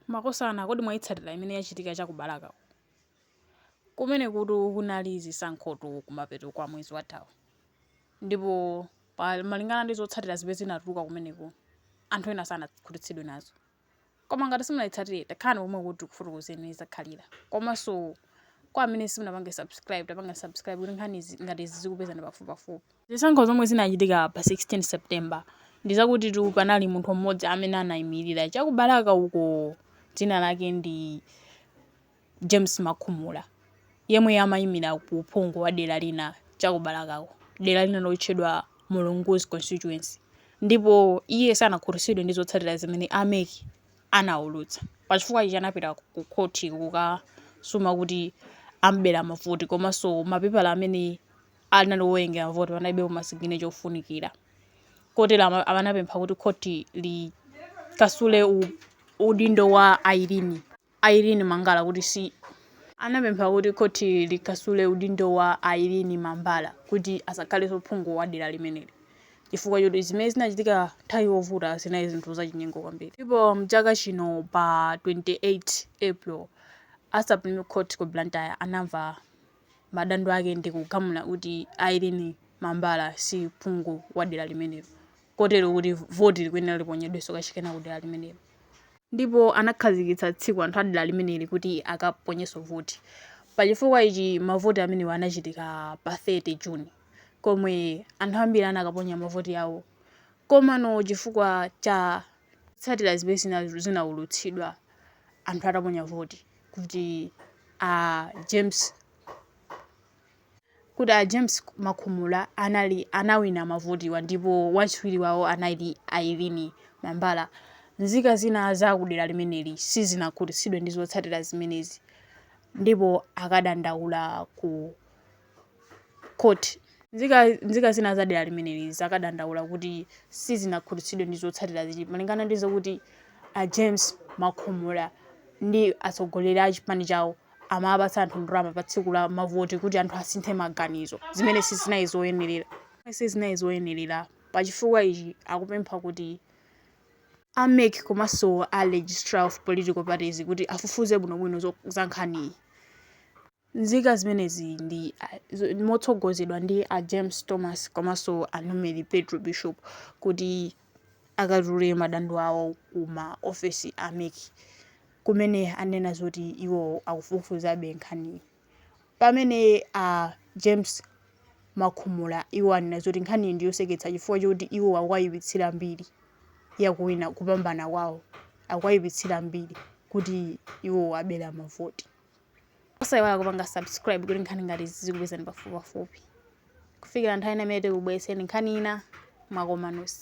Makosana kodi mwaitsatira imene yachitika cha ku Balaka ku? Kumenekutu kunali zisankhotu kumapeto kwa mwezi wathawu. Ndipo malingana ndi zotsatira zimene zinatuluka kumeneko, anthu ena sanakhutitsidwe nazo. Koma ngati simunaitsatire, takhalani pomwe kuti tikufotokozereni imene zakhalira. Komanso kwa amene simunapange subscribe, tapangani subscribe kuti nkhani izi- ngati izi zikupezani pafupipafupi. Zisankho zomwe zinachitika pa 16 September ndizakutitu panali munthu mmodzi amene anayimilira chaku Balaka uko dzina lake ndi James Makhumula yemwe amayimira ku uphungu wa dera lina chaku Balakako dera lina lotchedwa Mulunguzi constituency ndipo iye sanakhutitsidwe ndi zotsatira zimene a mec anawulutsa pachifukwa ichi anapita ku khothi kukasuma kuti amubera mavoti komanso mapepala amene anali owerengera mavoti, panalibepo ma siginecha ofunikira. Kotero ama- ama- anapempha kuti khoti likasule u- udindo wa Irene, Irene Mangala kuti si anapempha kuti khoti likasule udindo wa Irene Mambala kuti asakhalenso phungu wa dera limeneli chifukwa choti zimene zinachitika nthawi yovota zinali zinthu zachinyengo kwambiri. Ndipo mchaka chino pa 28 April, a Supreme Court ku Blantyre anamva madandaulo ake ndi kugamula kuti Irene Mambala si phungu wa dera limenelo kotero kuti voti likuyenera liponyedwenso kachikena ku dera limenelo ndipo anakhazikitsa tsiku anthu a dera limeneli kuti akaponyenso voti. Pa chifukwa ichi mavoti amenewa anachitika pa 30 June komwe anthu ambiri anakaponya mavoti awo komano chifukwa cha zotsatira zimene zinaulutsidwa anthu ataponya voti, kuti a James kuti a James Makhumula anali anawina mavotiwa ndipo wachiwiri wawo anali Irene Mambala. Nzika zina za kudera limeneli sizinakhutitsidwe ndi zotsatira zimenezi ndipo akadandaula ku Court. Nzika zina za dera limeneli zakadandaula kuti sizinakhutitsidwe ndi zotsatira izi malingana ndi zokuti a James Makhumula ndi atsogoleri a chipani chawo amapatsa anthu ndalama pa tsiku la mavoti kuti anthu asinthe maganizo zimene sizinali zoyenerera sizinali zoyenerera. Pa chifukwa ichi akupempha kuti a mec komanso a Registrar of Political Parties kuti afufuze bwinobwino zo- za nkhaniyi. Nzika zimenezi ndi motsogozedwa ndi a James Thomas komanso a Numeri Petro Bishop kuti akatule madandaulo awo ku ma ofesi a mec kumene anena zoti iwo akufufuzabe nkhaniyi. Pamene a James Makhumula iwo anena zoti nkhaniyi ndi yoseketsa chifukwa choti iwo akuwayipitsira mbiri ya kuwina kupambana kwawo, akuwayipitsira mbiri kuti iwo abera mavoti. osayiwala kupanga subscribe kuti nkhani ngati izi zizikupezani pafupipafupi kufikira nthawi ina imene tikubweretseni nkhani ina mwakomanusi